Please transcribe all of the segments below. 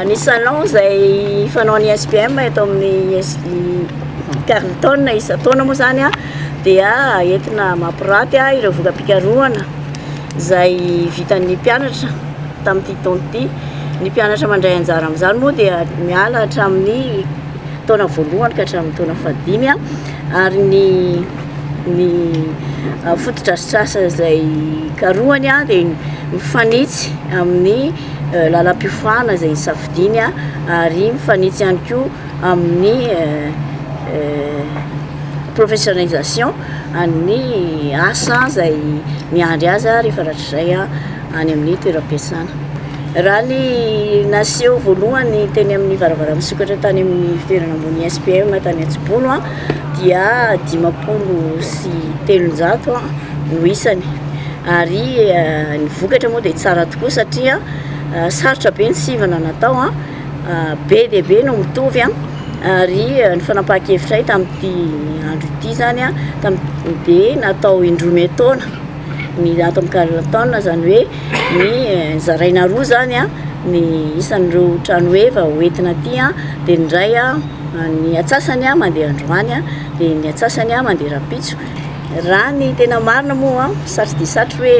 Ny salon izay fanaon'ny SPM eto amin'ny Carlton isan-taona moa izany dia entina mampiraty ireo voka-pikarohana izay vitan'ny mpianatra tamin'ity taona ity. Ny mpianatra mandray anjara amin'izany moa dia miala hatramin'ny taona voalohany ka hatramin'ny taona fahadimy ary ny ny fotodrafitrasa izay karohany dia mifanitsy amin'ny lalam-piofanana izay hisafidiany ary mifanitsy ihany koa amin'ny professionnalisation an'ny asa izay miandry azy rehefa rahatrizay any amin'ny toeram-piasana. Raha ny naseho voalohany teny amin'ny varavaramisokatra tany amin'ny fitoerana ambony ISPM tany Antsibono dia dimampolo sy telonjato no isany. Ary ny vokatra moa dia tsara tokoa satria sarotra be ny sivana natao, be dia be no mitovy ary ny fanapahan-kevitray tamin'ity andro ity izany dia natao indroa miantaona. Ny ato amin'ny Carlton izany hoe ny zaraina roa izany ny isan'ireo trano heva ho entina aty dia ny iray ny atsasany mandeha androany dia ny atsasany mandeha rahampitso. Raha ny tena marina moa satry dia satry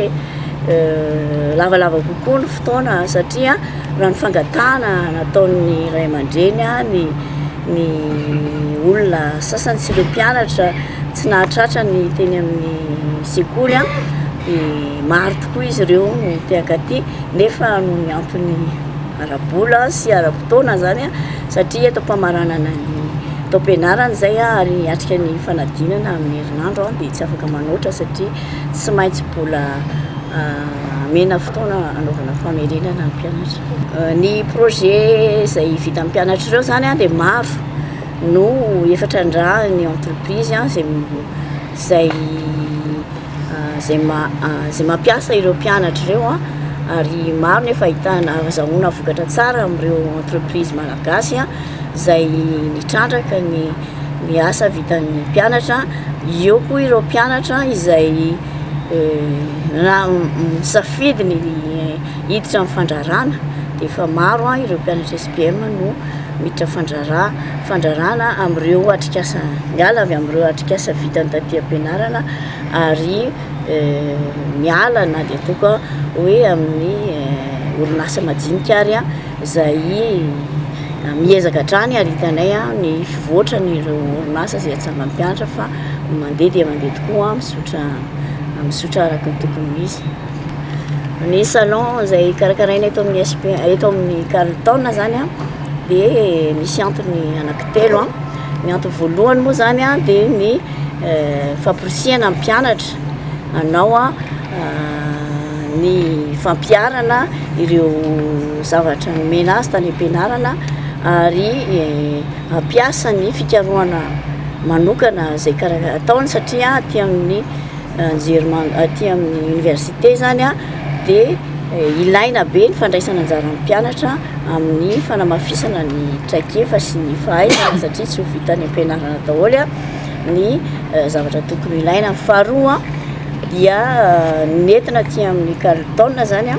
hoe lavalava kokoa ny fotoana satria raha ny fangatahana nataon'ny ray aman-dreny ny Ny olona sasany sy ireo mpianatra tsy nahatratra ny teny amin'ny sekoly dia maro tokoa izy ireo no te hankaty nefa noho ny antony ara-bola sy ara-potoana izany satria eto am-pamaranana ny taom-pianarana izay ary hiatrika ny fanadinana amin'ny herinandro dia tsy afaka manoatra satria tsy maintsy mbola amena fotoana anaovana famerenana ny mpianatra. Ny projet izay vitan'ny mpianatra ireo zany dia maro no efa trandrahan'ny entreprise izay izay izay izay mampiasa ireo mpianatra ireo ary maro no efa ahitana ahazahoana vokatra tsara amin'ireo entreprise malagasy izay nitrandraka ny ny asa vitan'ny mpianatra, eo koa ireo mpianatra izay misafidy ny hiditra amin'ny fandrarana dia efa maro an ireo mpianatra SPM no miditra fandrara fandrarana amin'ireo atrikasa miala avy amin'ireo atrikasa vitan'ny taty am-pianarana ary miala na dia toa ka hoe amin'ny orinasa majinika ary an Izay miezaka hatrany ary hitanay ny fivoatran'ireo orinasa izay atsangan'ny mpianatra fa mandeha dia mandeha tokoa mizotra mizotra araka ny tokony ho izy. Ny salon izay karakaraina eto amin'ny SP eto amin'ny Carlton izany dia misy antony anankitelo. Ny antony voalohany moa izany dia ny famporisihana ny mpianatra hanao ny fampiharana ireo zavatra nomena azy tany am-pianarana ary hampiasa ny fikarohana manokana izay kara- ataony satria aty amin'ny anjerimano aty amin'ny oniversite zany a de ilaina be ny fandraisana anjaran'ny mpianatra amin'ny fanamafisana ny traikefa sy ny fahaizana satria tsy ho vita any am-pianarana daholo a ny zavatra tokony ilaina. Faharoa dia nentina aty amin'ny Carlton izany a,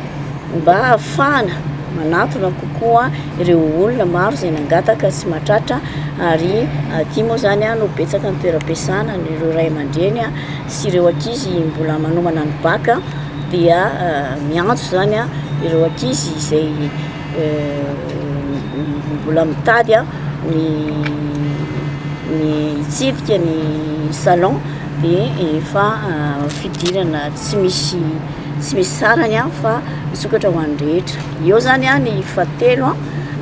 mba hahafahana manatona kokoa ireo olona maro izay nangataka sy mahatratra ary aty moa izany no betsaka ny toeram-piasana ireo ray aman-dreny sy ireo ankizy mbola manomana ny baka dia miantso izany ireo ankizy izay mbola mitady ny ny hitsidika ny salon de efa fidirana tsy misy tsy misy sarany a fa misokatra ho an'ny rehetra eo zany a ny fahatelo a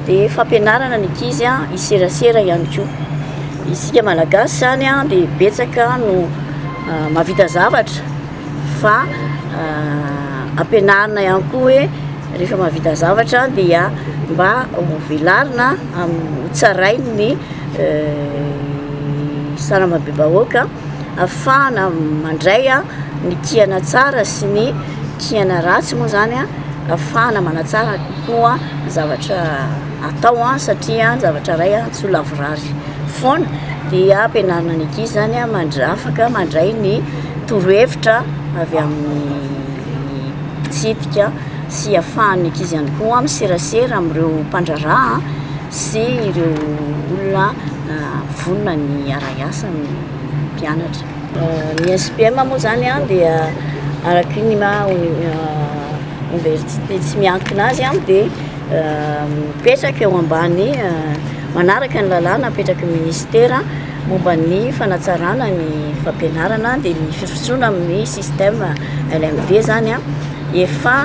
de fampianarana ny ankizy a hiserasera ihany koa isika malagasy zany a de betsaka no mahavita zavatra Fa ampianarina ihany koa hoe rehefa mahavita zavatra dia mba hovelarina hotsarainy ny sarambabem-bahoaka ahafahana mandray ny kiana tsara sy ny kiana ratsy moa zany ahafahana manatsara kokoa ny zavatra atao satria ny zavatra iray tsy ho lavorary foana dia ampianarina ny ankizy zany afaka mandray ny torohevitra avy amin'ny fitsipika sy ahafahan'ny ankizy ihany koa miserasera amin'ireo mpandraharaha sy ireo olona vonona ny hiara-hiasa amin'ny mpianatra. Ny SPM moa izany dia araka ny maha oniversite tsy miankina azy dia mipetraka eo ambany manaraka ny lalàna apetraky ny minisitera. Momba ny fanatsarana ny fampianarana dia ny firosoana amin'ny système LMD izany efa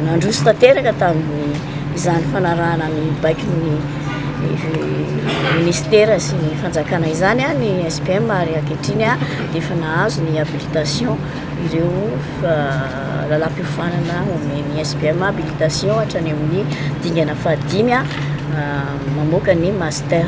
nandroso tanteraka tamin'ny izany fanarahana ny baikon'ny ministera sy ny fanjakana izany ny SPM ary ankehitriny dia efa nahazo ny habilitation. ireo lalam-piofanana omen'ny SPM habilitation hatrany amin'ny dingana fahadimy mamoaka ny master.